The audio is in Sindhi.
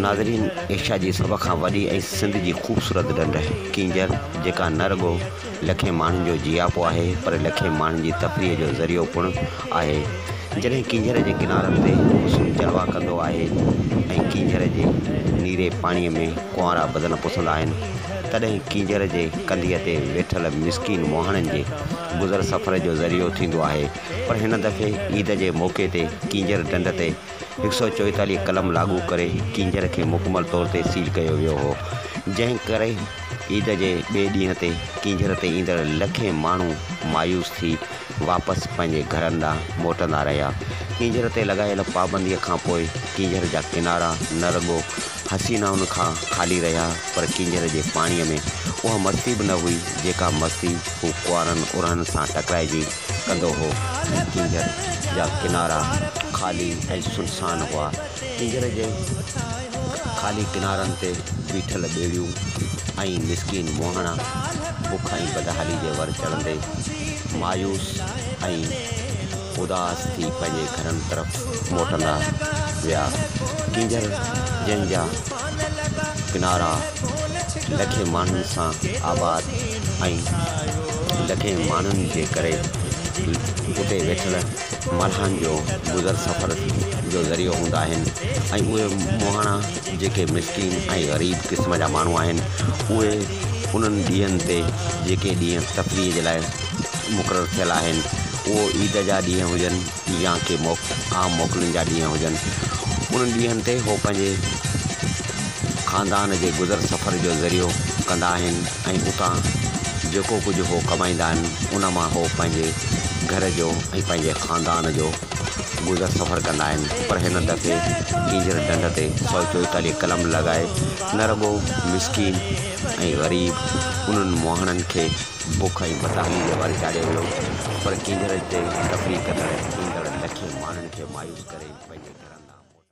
ناظرين ايشيا جي سڀ کان وڏي ۽ سنڌ جي خوبصورت ڍنڍ ڪينجهر جيڪا نه رڳو لکين ماڻهن جو جياپو آهي پر لکين ماڻهن جي تفريح جو ذريعو پڻ آهي جڏهن ڪينجهر جي ڪنارن تي حسن جلوا ڪندو آهي ۽ ڪينجهر جي نيري پاڻي ۾ ڪنوارا بدن پسندا آهن تڏهن ڪينجهر جي ڪنڌيء تي ويٺل مسڪين مهاڻن جي گذر سفر جو ذريعو ٿيندو آهي پر هن دفعي عيد جي موقعي تي ڪينجهر ڍنڍ تي هڪ سؤ چويتاليهه قلم لاڳو ڪري ڪينجهر کي مڪمل طور تي سيل ڪيو ويو هو، جنهن ڪري عيد جي ٻئي ڏينهن تي ڪينجهر تي ايندڙ لکين ماڻهو مايوس ٿي واپس پنهنجي گهرن ڏانهن موٽندا رهيا. ڪينجهر تي لڳايل پابنديء کان پوء ڪينجهر جا ڪنارا نه رڳو حسينائن کان خالي رهيا پر ڪينجهر جي پاڻيء ۾ اها مستي به نه هئي جيڪا مستي هو ڪنوارن ارهن سان ٽڪرائجي ڪندو هو ۽ ڪينجهر جا ڪنارا خالي ۽ سنسان هئا. ڪينجهر جي خالي ڪنارن تي بيٺل ٻيڙيون ۽ مسڪين مهاڻا بک ۽ بدحالي جي ور چڙهندي مايوس ۽ اداس ٿي پنهنجي گهرن طرف موٽندا ويا. ڪينجهر جن جا ڪنارا لکين ماڻهن سان آباد ۽ لکين ماڻهن جي ڪري اتي ويٺل ملهائن جو گذر سفر جو ذريعو هوندا آهن ۽ اهي مهاڻا جيڪي مسڪين ۽ غريب قسم جا ماڻهو آهن اهي انهن ڏينهن تي جيڪي ڏينهن تفريح جي لاء مقرر ٿيل آهن اهو عيد جا ڏينهن هجن يا ڪي عام موڪلن جا ڏينهن هجن، انهن ڏينهن تي هو پنهنجي خاندان جي گذر سفر جو ذريعو ڪندا آهن ۽ اتان جيڪو ڪجهه هو ڪمائيندا آهن، ان مان هو پنهنجي گهر جو ۽ پنهنجي خاندان جو گذر سفر ڪندا آهن پر هن دفعي ڪينجهر ڍنڍ تي سؤ چوئيتاليهه قلم لڳائي نه رڳو مسڪين ۽ غريب انهن مهاڻن کي بک ۽ بدحاليء جي واري چاڙهيو ويو پر ڪينگهرن چيس ته تفريح ڪندڙ ايندڙ لکين ماڻهن کي مايوس ڪري پنهنجي گهرن ڏانهن موٽائي